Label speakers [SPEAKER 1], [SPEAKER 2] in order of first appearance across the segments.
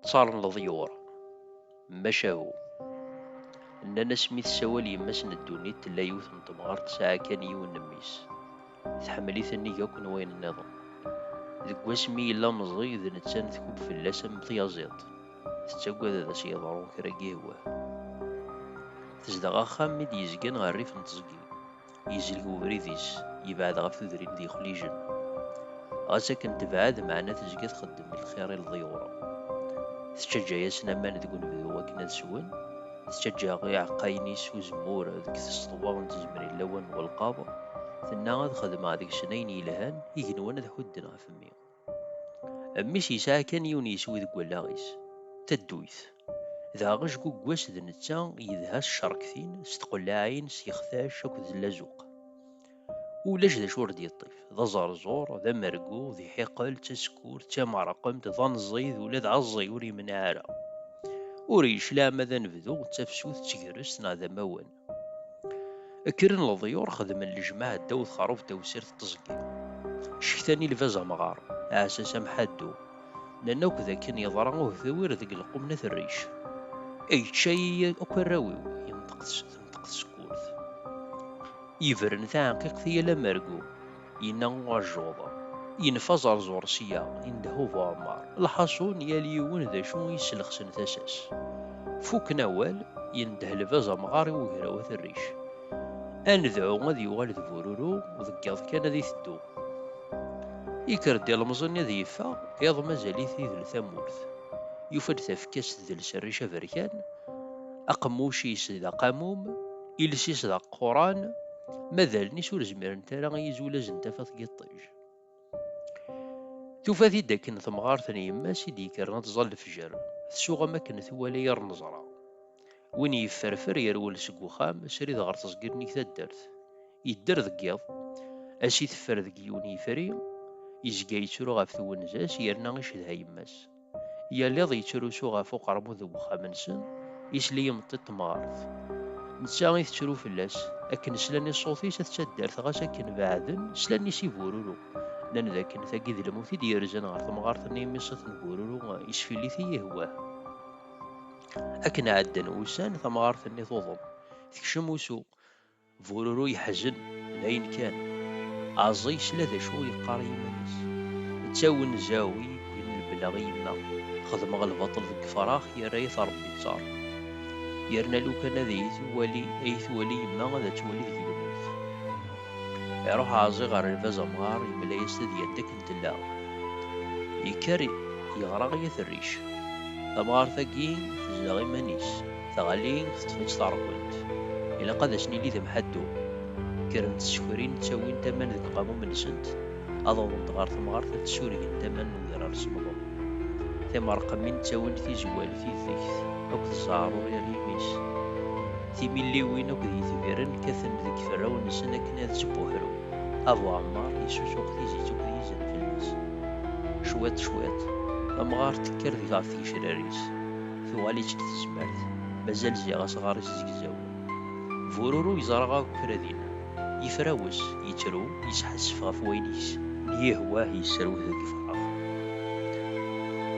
[SPEAKER 1] ttaṛen leḍyur maca hu nnan as mi tessawal yemma-s n ddunit tella yiwet n temɣart tesɛa kan yiwen n mmi-s tḥemmel-it nnig akk n wayen nniḍen deg wasmi yella meẓẓi d nettan tkub fell-as am tyaẓiḍt tettagad ad as-yeḍru kra n yihwa. Tezdeɣ axxam i d-yezgan ɣer rrif n teẓgi. Yezleg webrid-is, yebɛed ɣef tudrin d yixlijen. Ɣas akken tebɛed, meɛna tezga txeddem lxir i lḍyur. Tettaǧǧa-yasen aman deg unebdu akken ad swen, tettaǧǧa iɛeqqayen-is uzemmur deg tseḍwa n tzemrin lawan n welqaḍ, tenna ad xedmeɣ deg-sen ayen yelhan, igenwan ad ḥudden ɣef mmi. Mmi-s yesɛa kan yiwen yiswi deg wallaɣ-is, tadduyt. Dɣa ajgugg-was d netta yedha s ccerktin, s tqellaɛin, s yextac akked d lazuq. Ulac d acu ur d-yeṭṭif, d aẓerẓur, d amergu, d iḥiqel, d tasekkurt, d tamerqemt, d anẓi, d ula d aẓi ur yemneɛ ara. Ur yecliɛ ma d anebdu, d tafsut, d tegrest neɣ d amawen. Kkren leḍyur xedmen lejmaɛ ddaw texrubt tawsirt n teẓgi. Cektan i lbaz amɣar, aɛessas amḥaddu. Nnan akk d akken yeḍra uhtewir deg lqum n at rric. Yečča-yi akk arraw-iw, yenṭeq tenṭeq tsekkurt. Yebren taɛenqiqt i yal amergu, Yenna uɛejjuḍ, Yenfa ẓerẓur sya, indehhu bu ɛemmar. Lḥaṣun, yal yiwen d acu i yesselxsen tasa-s. Fukken awal, yendeh lbaz amɣar i ugraw at rric. Ad nedɛu ad yuɣal d bururu, deg yiḍ kan ad iteddu. Yekker-d ilemẓi-nni ad yeffeɣ, iḍ mazal-it idel tamurt. Yufa-d tafekka-s tdels rric aberkan, aqemmuc-is d aqamum. Iles-is d aquran, ma d allen-is ur zmirent ara i yizulaz n tafat n yiṭij. Tufa-t-id akken temɣart n yemma-s i d-yekkren ad tẓall lefjer, tsuɣ am akken twala yir neẓra. Win yefferfer yerwel seg uxxam srid ɣer teẓgi nnig taddart. Yedder deg yiḍ, ass iteffer deg yiwen yifri, yezga yettru ɣef twenza-s yerna icedha yemma-s. Yal iḍ yettrusu ɣef uqermud n wexxam-nsen, isell i yimeṭṭi n temɣart. Netta i tettru fell-as, akken slan i ṣṣut-is at taddart ɣas akken beɛden, slan-is i bururu. Nnan d akken tagi d lmut i d-yerzan ɣer temɣart-nni imi ṣṣut n bururu yesfillit i yihwah. Akken ɛeddan wussan, tamɣart-nni tuḍen, tekcem usu. Bururu yeḥzen, dayen kan. Aẓ yesla d acu i yeqqar i yiman-is. D tawenza-w i yewwin lebleɣ i yemma, xedmeɣ lbaṭel deg yefrax yerra-yat Rebbi ttar. Yerna lukan ad iyi-twali ad iyi-twali yemma ad twali deg-i lmut. Iruḥ Aẓi ɣer lbaz amɣar yemla-yas tadyant akken tella. Yekker yeɣra i At Rric. Tamɣart-agi tezdeɣ iman-is. Taɣali teṭṭef-itt taṛbunt. Ilaq ad as-nili d amḥaddu. Kkrent tsekrin ttawint aman deg uqamum-nsent, ad awḍent ɣer temɣart ad d-ssurgent aman n udrar s umḍum. Timeṛqmin ttawint tizwal, tidegt akked zzeɛṛ ur irri imi-s. Timilliwin akked yitbirren kkaten deg iferrawen-nsen akken ad tt-buḥru. Abu Ɛemmar yessusuɣ tizit akked yizenfel-is. Cwiṭ cwiṭ, tamɣart tekker deg ɣef tgecrar-is. Tuɣal-itt deg tezmert, mazal ziɣ asɣar-is zegzaw. Bururu yeẓra akk kra dinna. Yefrawes, yettru, yesḥassef ɣef wayen i yessen. Yihwah yesserwet deg yifrax.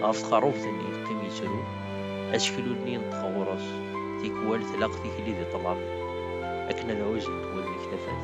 [SPEAKER 1] Ɣef tqerrubt-nni yeqqim yettru. Aseklu-nni yenṭeq ɣur-s, tikwal tlaq tikli di ṭṭlam akken ad ɛuzent wallen-ik tafat.